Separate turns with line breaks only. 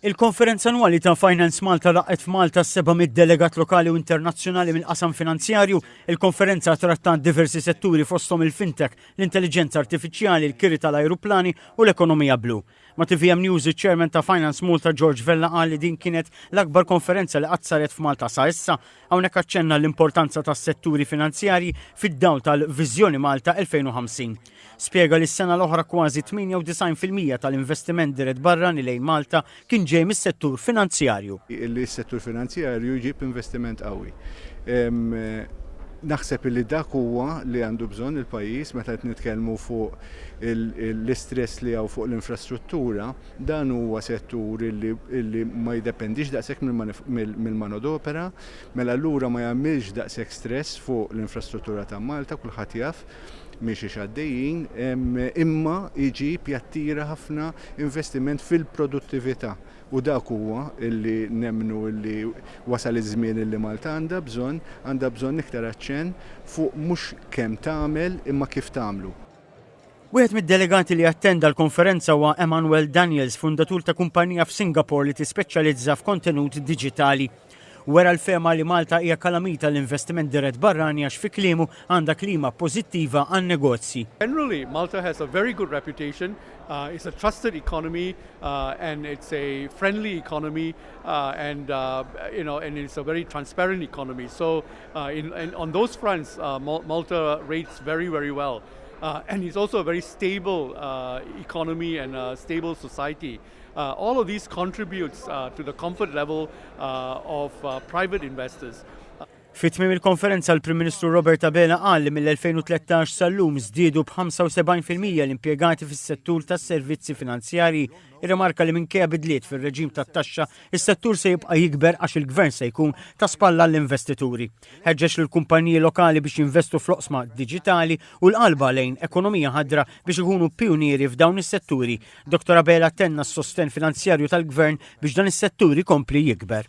Il-Konferenza Annwali ta' Finance Malta laqgħet f'Malta s-700 delegat lokali u internazzjonali mill-qasam finanzjarju. Il-konferenza trattat diversi setturi fosthom il-fintech, l-intelliġenza artifiċjali, l-kiri tal-ajruplani u l-ekonomija blu. Ma' TVM News iċ-Chairman ta' Finance Malta George Vella qal li din kienet l-akbar konferenza li qatt saret f'Malta sa issa Hawnhekk aċċenna l-importanza tas-setturi finanzjarji fid-dawl tal-Viżjoni Malta 2050. Spjega li s-sena l-oħra kważi 98% tal-investiment dirett barrani lejn Malta kien ġej mis-settur finanzjarju. Li s-settur
finanzjarju jġib investiment qawwi. Naħseb li dak huwa li għandu bżonn il-pajjiż meta qed nitkellmu fuq l-istress li hawn fuq l-infrastruttura. Dan huwa settur li ma jiddependix daqshekk mill-manodopera, mela allura ma jagħmilx daqshekk stress fuq l-infrastruttura ta' Malta, kulħadd jaf minn xiex għaddejjin, imma jġib, jattira ħafna investiment fil-produttività u dak huwa li nemmnu li wasal iż-żmien li Malta għandha bżonn, għandha bżonn iktar aċċenn fuq mhux kemm tagħmel imma kif tagħmlu. Wieħed
mid-delegati li attenda l-konferenza huwa Emmanuel Daniels, fundatur ta' kumpanija f'Singapore li tispeċjalizza f'kontenut diġitali. Wera l-fehma li Malta hija kalamita l-investiment dirett barrani għax fi kliemu għandha klima pożittiva għan-negozji. Generally, Malta has
a very good reputation, uh, it's a trusted economy uh, and it's a friendly economy uh, and, uh, you know, and it's a very transparent economy. So, On those fronts Malta rates very very well and is also a very stable economy and stable society. All of these contributes to the comfort level of private investors. Fi tmiem
il-konferenza l-Prim Ministru Robert Abela qal li mill-2013 sal-lum żdiedu b'75% l-impjegati fis-settur tas-servizzi finanzjarji Irrimarka li minkejja bidliet fir-reġim tat-taxxa, is-settur se jibqa' jikber għax il-Gvern se jkun ta' spalla għall-investituri. Ħeġġeġ lill-kumpaniji lokali biex jinvestu fl-oqsma diġitali u l-qalba lejn ekonomija ħadra biex ikunu pijunieri f'dawn is-setturi. Dottor Abela tenna s-sostenn finanzjarju tal-Gvern biex dan is-settur ikompli jikber.